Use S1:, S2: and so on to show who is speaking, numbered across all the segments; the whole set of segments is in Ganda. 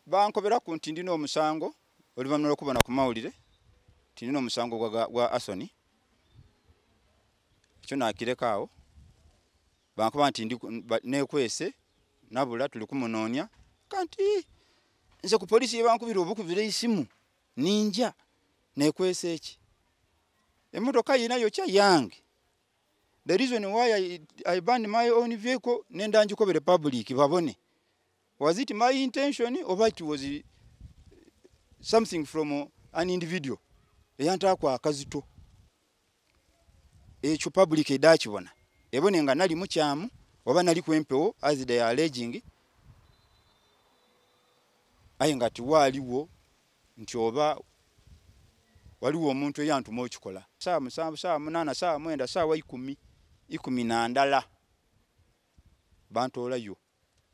S1: bankobera ku nti ndina omusango oluvannyuma lwokubona ku mawulire nti ndina omusango gwa asoni ekyo nakireka awo bankuba nti nekwese nabula tuli kumunoonya kanti nze ku polisi yebankubira obukubira isimu ninja nekwese eki emotoka yina yokya yange The reason why I, I banned my own vehicle nenda njikobere public babone. Was it my intention or it was uh, something from uh, an individual? Eyanta kwa akazito. Echo public edachi bona. Ebone nga nali muchamu oba nali kwempewo as they are alleging. Aye ngati waliwo nti oba waliwo omuntu eyantuma okikola saawa musanvu saawa munaana saawa mwenda saawa ikumi ikumi nandala bantoolayo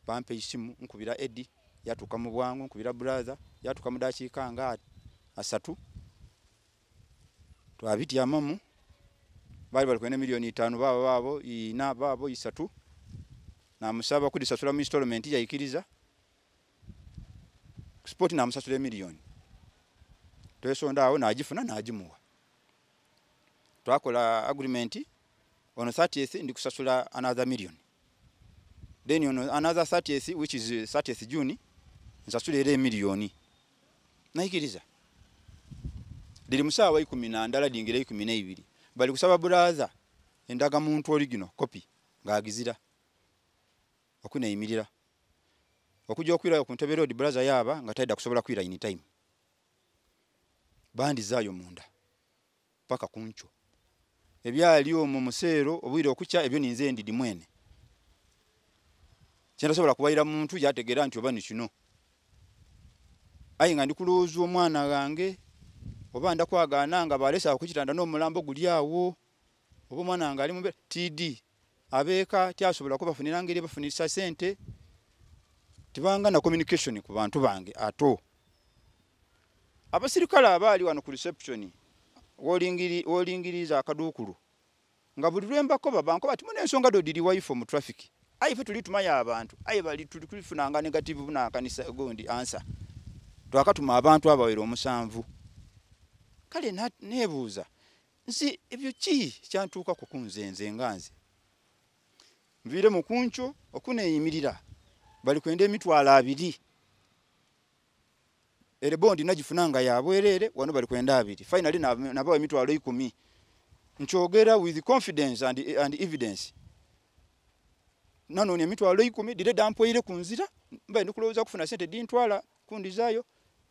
S1: bampa eisimu nkubira edi yatuuka mu bwangu nkubira brother yatuuka mu dakiika nga asatu twabityamamu baali bali kwena miliyoni itaano baabo baabo ina baabo isatu namusaba kudisasula mu instalment yaikiriza sport namusasula emiliyoni twesondaawo nagifuna nagimuwa twakola agreement ono 30th ndi kusasula another million then ono another 30th which is 30th june nsasula era emiliyoni naikiriza liri musaawa ikumi nandala lingira ikumi neibiri bali kusaba brother endaga muntu oligino kopi ngaagizira okuneyimirira okujja okwirayo ku ntebe road braza yaaba nga taida kusobola kwira in time bandizaayo munda paka kunkyo ebyali omwo museero obwire okukya ebyo ninze ndidi mwene kyendasobola kuwayira muntu yategeera nti oba nikino aye nga ndi kulowooza omwana wange oba ndakwagaana nga balesaako kitanda n'omulambo guli awo oba omwana wange ali mube tidi abeeka tyasobola kubafunira ngeri bafunisa sente tibanga na communication ku bantu bange ato abasirikale abaali wano ku reception wolingiriza akaduukulu nga buli lwembako babanko bati muna ensonga dodiri waifo mu traffic aye fe tuli tumayo abantu aye bali tuli kulifunanga negative bunakanisa gundi ansa twakatuma abantu abawera omusanvu kale nebuuza nsi ebyo ki kyantuukako kunze nze nga nze nviire mu kunkyo okuneeyimirira bali kwenda emitwalo abiri ere bondi nagifuna nga yabwereere wano bali kwenda abiri finally nabawa emitwalo ikumi nkyogera with confidence and, and evidence nanoonya emitwalo ikumi dire dampweire ku nzira mbaye ndikulowooza kufuna sente dintwala kundizayo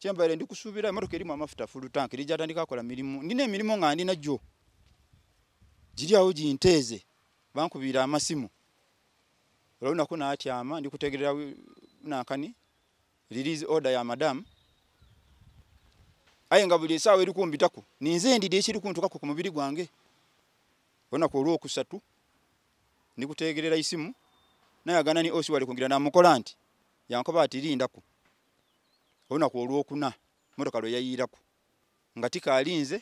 S1: kyembaire ndi kusuubira emotoka erimu amafuta full tank eri gyatandika akola mirimu ndina emirimu nga ndina gyo giri awo ginteeze bankubiira amasimu olwonaku natyama ndi kutegerera nankani release order ya madamu aye nga buli esaawa eri kumbitako ninze endidi ekiri kuntukako ku mubiri gwange olunaku olwokusatu ndi kutegerera isimu nayagana ni osi wali kungira namukola nti yankoba ati lindako olunaku olwokuna motoka lwe yayiirako nga tikaalinze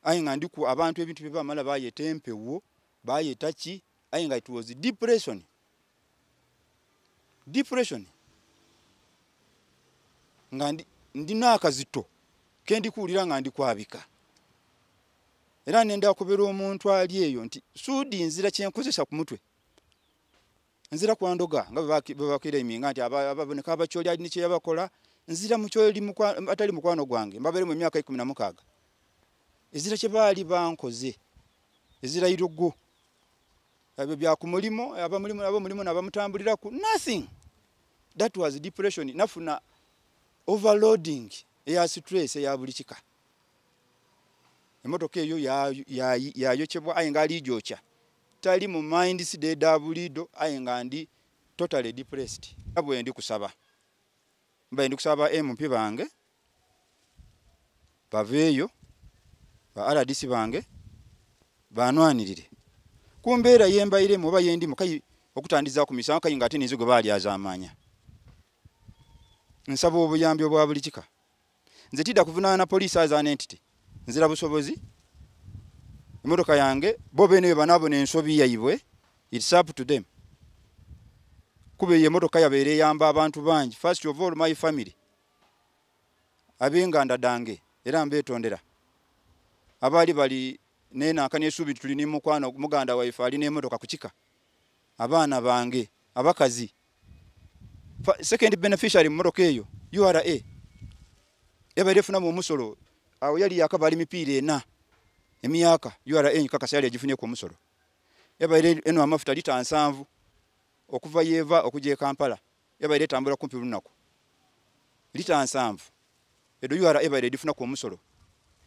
S1: aye nga ndi ku abantu ebintu bye bamala bayeta empewo bayeta ki aye nga it was depression depression nga ndi n'akazito ke ndi kuwulira nga ndi kwabika era ne ndakubira omuntu ali eyo nti suudi nzira kyenkozesa ku mutwe nzira kwa ndoga nga bebabakira iminga nti ababoneka abakyoli alina kyeyabakola nzira mukyoli atali mukwano gwange mbaberemu emyaka ikumi na mukaaga ezira kyebaali bankoze ezira irugu ebyo byakumulimu abamulimu abamulimu nabamutambuliraku nothing that was depression nafuna overloading eya stress eya buli kika emotoka eyo yayokyebwa aye nga aliijokya tali mu mind side da bulido aye nga ndi totally depressed abwe ndi kusaba mbaye ndi kusaba MP bange baveyo ba RDC bange banwanirire kumbeera yembaire mu baye ndi mukai okutandiza ku misango kai ngate nizigo bali azamanya nsaba obuyambi obwa bulikika nze tidda kuvunaana na poliisi aza nentity nzira busobozi emotoka yange bo bene bebanabona ensobi yaibwe its up to them kuba eyo emotoka yabeera eyamba abantu bangi first of all my family abenganda dange era mbetondera abaali bali nenanka nesuubi nti tuli nemukwano muganda waife ali nemotoka kukika abaana bange abakazi second beneficiary mmotoka eyo ura yabaire efunamu omusolo awo yali yakaba ali mipiira ena emyaka ura kakasa yali agifunyeku omusolo yabaire eno amafuta lita nsanvu okuva yeeva okuja ekampala yabaire etambula kumpi lunaku lita nsanvu edo ura ebaire edifunaku omusolo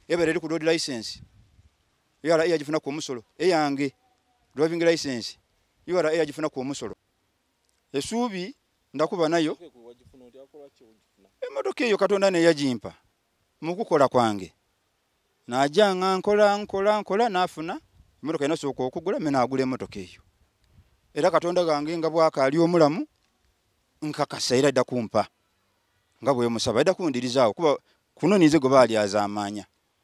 S1: ebaire eri ku road license ura yagifunaku omusolo eyange driving license ura yagifunaku omusolo esuubi ndakuba nayo emotoka eyo katonda neyagimpa mukukola kwange naja nga nkola nkola nkola nafuna emotoka enasooka okugula me nagula emotoka eyo era katonda gange nga bwakaali omulamu nkakasa era dda kumpa nga bwemusaba dda kundirizaawo kuba kuno ninze gwe baali azaamaanya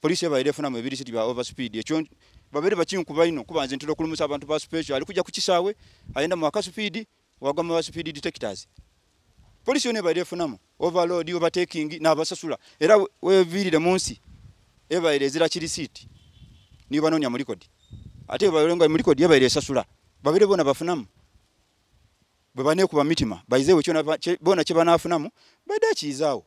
S1: Police yabaire efuna mu ebiri siti bya over speed ekyo babere bakinkuba ino kuba nze ntira okulumusa abantu ba special ali kujja kukisaawe ayenda mu aka speed wagwa mu speed detectors Police yone baire efuna mu overload overtaking na basasula era wevirire munsi ebaire ezira kiri siti ni banonya muri kodi ate baire ngo muri kodi ebaire esasula babere bona bafuna mu bwe bane kuba mitima baize wekyo bona kye banafuna mu badachi izao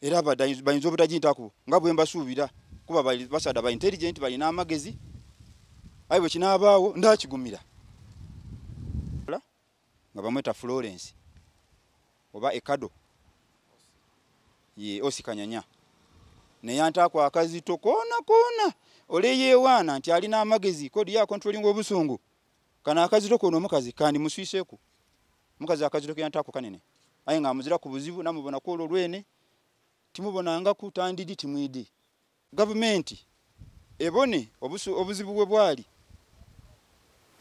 S1: era bayinza obutagintako nga bwe mbasuubira kuba basaada ba intelligent balina amagezi aye bwe kinaabaawo ndakigumira nga bamweta florence oba ekado ye osikanyanya neyantaako akazito koona koona oleyeewaana nti alina amagezi kodi ya controlling obusungu Kano akazito kono omukazi kandi muswiseku. Mukazi akazito kya ntako kanene. Aye nga amuzira ku buzibu namubona ku olwo lwene. Timubona nga ku tandidi timwidi. Gavumenti ebone obusu obuzibu bwe bwali.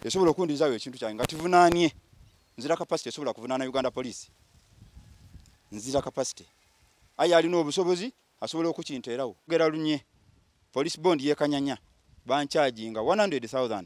S1: Esobola okundizawo ekintu kyange nga tivunanye. Nzira capacity esobola kuvunana Uganda Police. Nzira capacity. Aye alina obusobozi asobola okukinterawo. Gera lunye. Police bond yekanyanya. Banchaji nga 100,000.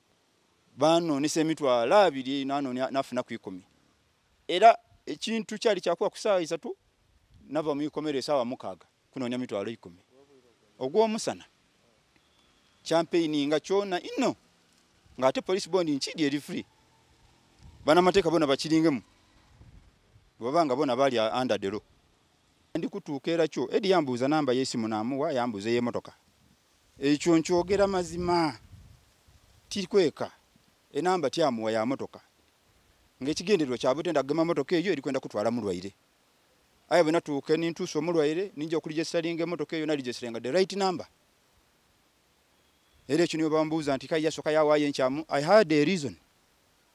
S1: banonesa emitwalo abiri eino anonya nafuna kwikumi era ekintu kyali kyakuba ku saawa isatu nava mu ikomero esaawa mukaaga kunonya mitwalo ikumi ogwomusana champeyini nga kyona inno nga ate polisi bondi nkidi eri free banamateeka bona bakiringemu bwebabanga bona bali andadero ndi kutuuka era kyo edi yambuuza namba yesimu namuwa yambuuza eyemotoka ekyo nkyogera mazima tikweka enamba tyamuwa ya motoka ngaekigendererwa kyabutenda kugema motoka eyo erikwenda kutwala mulwaire aye bwe natuuka nintuusa omulwaire ninja okulijesitalinga emotoka eyo nalijesitalinga the right number era ekyo niwe bambuuza nti kaye yasoka yawaayo enkyamu i had a reason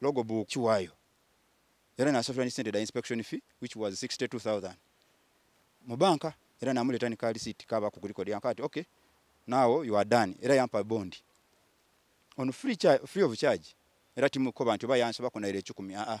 S1: logo book kiwayo era nasasula ni sente da inspection fee which was 62000 mu banka era namuleta ni kali city kaba ku kuliko dia kati okay now you are done era yampa bond on free charge free of charge era timu ko bantu bayanso bakona ile 10 a a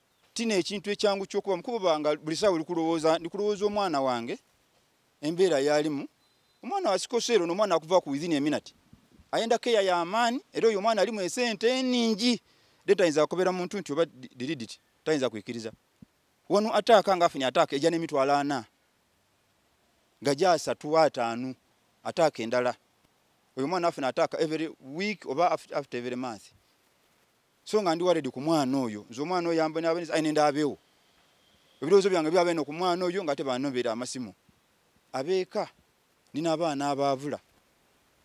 S1: tina ekintu ekyangu kyokuba mukuba nga buli sawa likulowooza ndikulowooza omwana wange embeera yalimu omwana wasikoseero nomwana akuva ku within eminati ayenda keya yamaani era oyo omwana alimu esente eningi de tayinza akobera muntu nti oba diriditi tayinza kwikiriza wano ataaka nga afunye ataaka eja nemitwalo ana nga gyasatu ataanu ataaka endala oyo omwana afuna ataaka every week oba after every month so nga ndi waredi ku mwana oyo nze omwana oyo yamba nabe nze nenda abewo ebirowoozo byange byabe no ku mwana oyo nga tebanobera amasimu abeeka nina abaana abaavula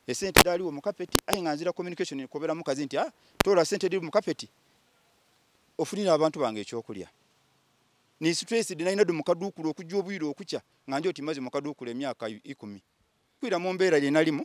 S1: esente daliwo mu kapeti aye nga nzira communication kubera mukazi nti ah tola sente daliwo mu kapeti ofunira abantu bange ekyokulya ni stress dina ina dum kadukulu okujja obwiro okukya nga njo timaze mu kadukulu emyaka 10 kwira mu mbera ye nalimu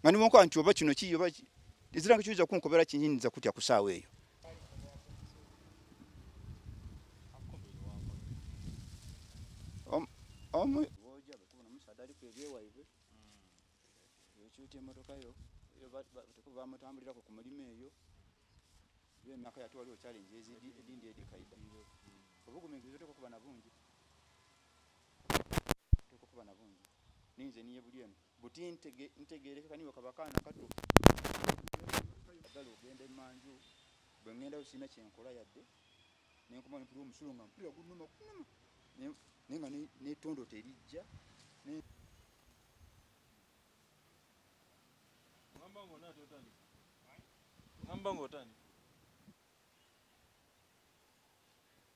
S1: nga nimukola nti oba kino kiyo baki eziranga kiyinza kunkobera kinyinza kutya ku saawa eyo omu bamutambulirako ku mulimu eyo emyaka yatu waliwo challenge ezindi edikaida obuguminkiriza oteka okuba na bungi tekukuba na bungi ninze niye buli eno buti ntegeereke kaniwe kabakaana kato agala ogenda emanju bwe ŋŋendayo sirina kyenkola yadde nenkuba mpira omusulo nga mpira gunuma kunuma naye nga netondo terijja
S2: ngamba ngaotandika